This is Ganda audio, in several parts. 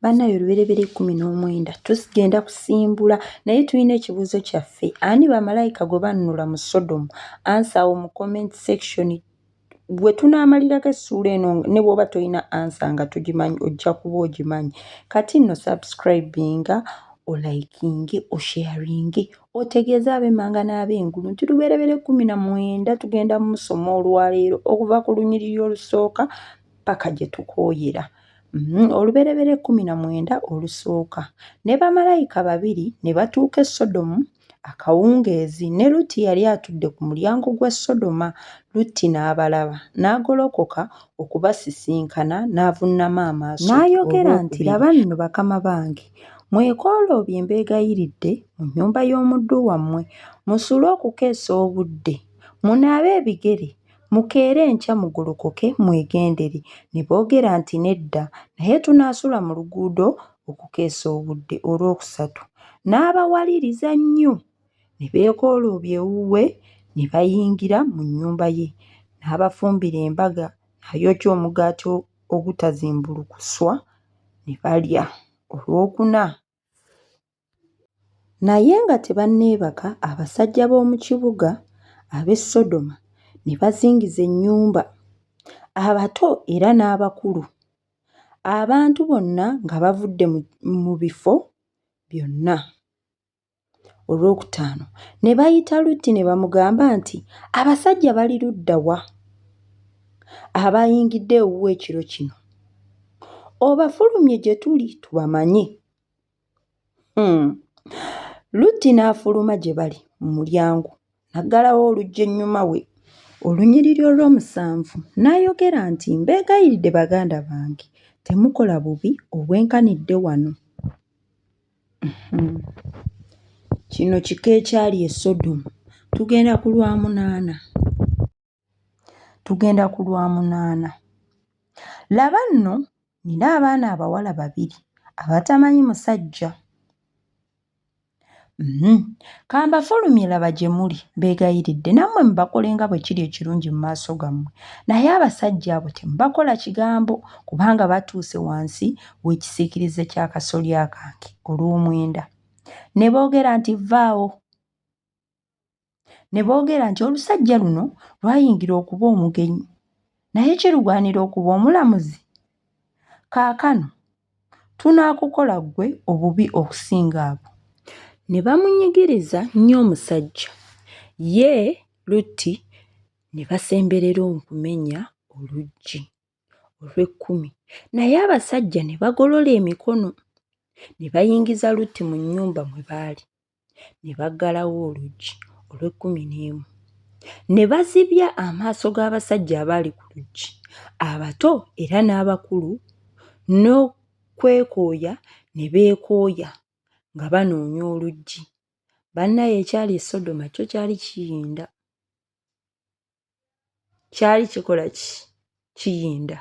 banaye oluberebera ekumi n'omwenda tugenda kusimbula naye tulina ekibuuzo kyaffe ani bamalayika gwe bannula mu sodomu ansa awo mu comment section bwe tunaamalirako essuula eno ne bwoba tolina ansa nga tugimanyi ojja kuba ogimanyi kati nno subscribinga olayikinge osharinge otegeeze ab'emmanga n'ab'engulu nti luberebera ekkumi na mwenda tugenda mu musoma olwaleero okuva ku lunyiriri olusooka paka gye tukooyera mm, olubereberye ekkumi na mwenda olusooka ne bamalayika babiri ne batuuka e sodomu akawungeezi ne lutti yali atudde ku mulyango gwa sodoma lutti n'abalaba n'agolokoka okubasisinkana n'avunnama amaaso n'ayogera nti laba nno bakama bange mwekooloobye mbeegayiridde mu nnyumba y'omuddu wammwe musuule okukeesa obudde munaabe ebigere Mukeere enkya mugolokoke mwegendere. Ne boogera nti, Nedda, naye tunaasula mu luguudo okukeesa obudde. Olwokusatu n'abawaliriza nnyo, ne beekooloobya ewuwe, ne bayingira mu nnyumba ye, n'abafumbira embaga, n'ayokya omugaati ogutazimbulukuswa, ne balya. Olwokuna Naye nga tebanneebaka abasajja b'omu kibuga ab'e Sodoma ne bazingiza ennyumba, abato era n'abakulu, abantu bonna nga bavudde mu bifo byonna. Olwokutaano ne bayita Lutti ne bamugamba nti, Abasajja bali ludda wa abayingidde ewuwe ekiro kino? Obafulumye gye tuli tubamanye. Hmm. Lutti n'afuluma gye bali mu mulyango n'aggalawo oluggi ennyuma we olunyiriri olw'omusanvu n'ayogera nti, Mbeegayiridde baganda bange temukola bubi obwenkanidde wano. Kino kika ekyali e Sodomu. Tugenda ku lwa munaana. Tugenda ku lwa munaana. Laba nno, nnina abaana abawala babiri abatamanyi musajja. Mm-hmm. Ka mbafulumye laba gye muli, mbeegayiridde nammwe mubakole nga bwe kiri ekirungi mu maaso gammwe. Naye abasajja abo temubakola kigambo, kubanga batuuse wansi w'ekisiikirize ky'akasolya kange olw'omwenda. Ne boogera nti, Vvaawo! Ne boogera nti, Olusajja luno lwayingira okuba omugenyi, naye kirugwanira okuba omulamuzi? Kaakano tunaakukola ggwe obubi okusinga abo. Ne bamunyigiriza nnyo omusajja, ye Lutti ne basemberera okumenya oluggi. olw'ekkumi naye abasajja ne bagolola emikono ne bayingiza lutti mu nnyumba mwe baali ne baggalawo oluggi olw'ekkumi n'emu ne bazibya amaaso g'abasajja abaali ku luggi abato era n'abakulu n'okwekooya ne beekooya nga banoonya oluggi bannaye ekyali esodoma kyo kyali kiyinda kyali kikola ki kiyinda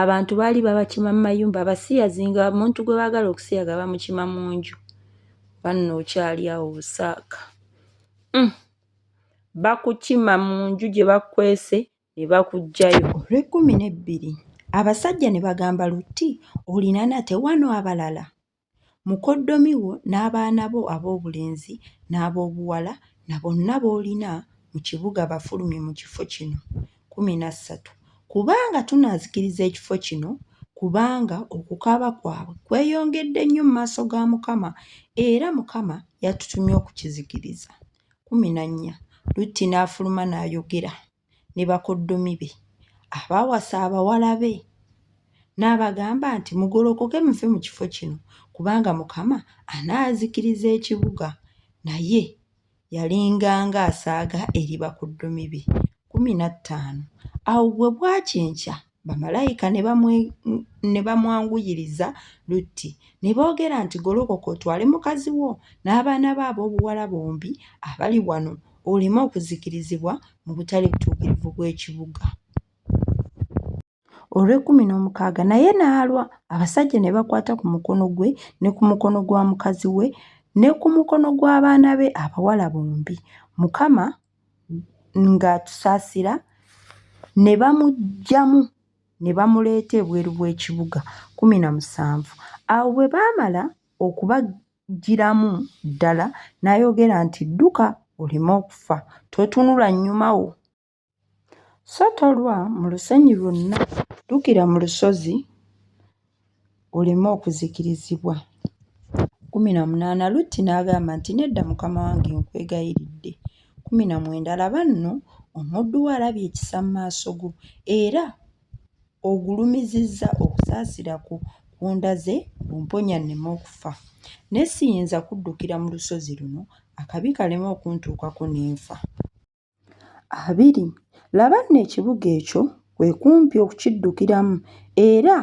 abantu baali babakima mu mayumba abasiyazi nga omuntu gwe baagala okusiyaga bamukima mu nju banno okyali awo busaaka mm. bakukima mu nju gye bakwese ne bakuggyayo olw'ekkumi n'ebbiri abasajja ne bagamba lutti olina nate wano abalala Mukoddomi wo n'abaana bo aboobulenzi n'aboobuwala na bonna b'olina mu kibuga bafulumye mu kifo kino. Kkumi na ssatu, Kubanga tunaazikiriza ekifo kino, kubanga okukaaba kwabwe kweyongedde nnyo mu maaso ga Mukama, era Mukama yatutumye okukizikiriza. Kkumi na nnya, Lutti n'afuluma n'ayogera. ne bakuddumi be abaawasa abawala be n'abagamba nti, Mugolokoke muve mu kifo kino kubanga Mukama anaazikiriza ekibuga. Naye yalinga ng'asaaga eri bakuddumi be kkumi na ttaano. Awo bwe bwakya enkya Bamalayika ne bamwanguyiriza Lutti, ne boogera nti, Golokoka otwale mukazi wo n'abaana bo ab'obuwala bombi abali wano, oleme okuzikirizibwa mu butali butuukirivu bw'ekibuga. Olw'ekkumi n'omukaaga naye n'alwa, abasajja ne bakwata ku mukono gwe ne ku mukono gwa mukazi we ne ku mukono gw'abaana be abawala bombi, Mukama ng'atusaasira, ne bamuggyamu ne bamuleeta ebweru w'ekibuga. Kkumi na musanvu. Awo bwe baamala okubaggyiramu ddala, n'ayogera nti, Dduka oleme okufa. Totunula nnyuma wo. So tolwa mu lusenyi lwonna. Ddukira mu lusozi. oleme okuzikirizibwa. Kkumi na munaana Lutti n'agamba nti, Nedda mukama wange, nkwegayiridde. Kkumi na mwenda Laba nno, omuddu wo alabye ekisa mu maaso go, era ogulumizizza okusaasira kwo kw'ondaze ng'omponya nneme okufa. Naye siyinza kuddukira mu lusozi luno, akabi kaleme okuntuukako ne nfa. abiri. Laba nno ekibuga ekyo kwe kumpi okukiddukiramu era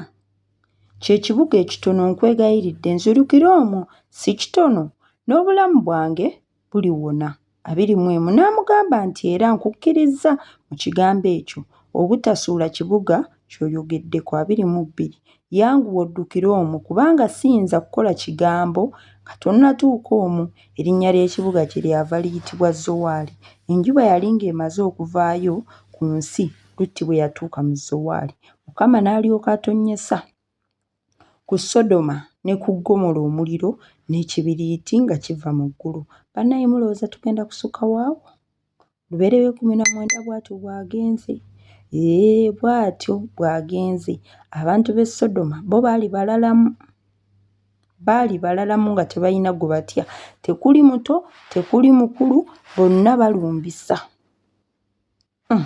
kye kibuga ekitono nkwegayiridde nzirukira omwo si kitono n'obulamu bwange buliwona. Abiri mu emu n'amugamba nti era nkukkirizza mu kigambo ekyo obutasuula kibuga ky'oyogeddeko, abiri mu bbiri, yanguwa oddukire omwo, kubanga siyinza kukola kigambo nga tonnatuuka omwo. Erinnya ly'ekibuga kyeryava liyitibwa Zowaali. Enjuba yali ng'emaze okuvaayo ku nsi Lutti bwe yatuuka mu Zowaali. Mukama n'alyoka atonnyesa. ku Sodoma ne ku Ggomola omuliro n'ekibiriiti nga kiva mu ggulu. Bannaaye mulowooza tugenda kusukka waawo? Lubeerera ekumi na mwenda bw'atyo bw'agenze. Ee, bw'atyo bw'agenze. Abantu b'e Sodoma bo baali balalamu. Baali balalamu nga tebalina gwe batya. Tekuli muto, tekuli mukulu, bonna balumbisa. Hmm.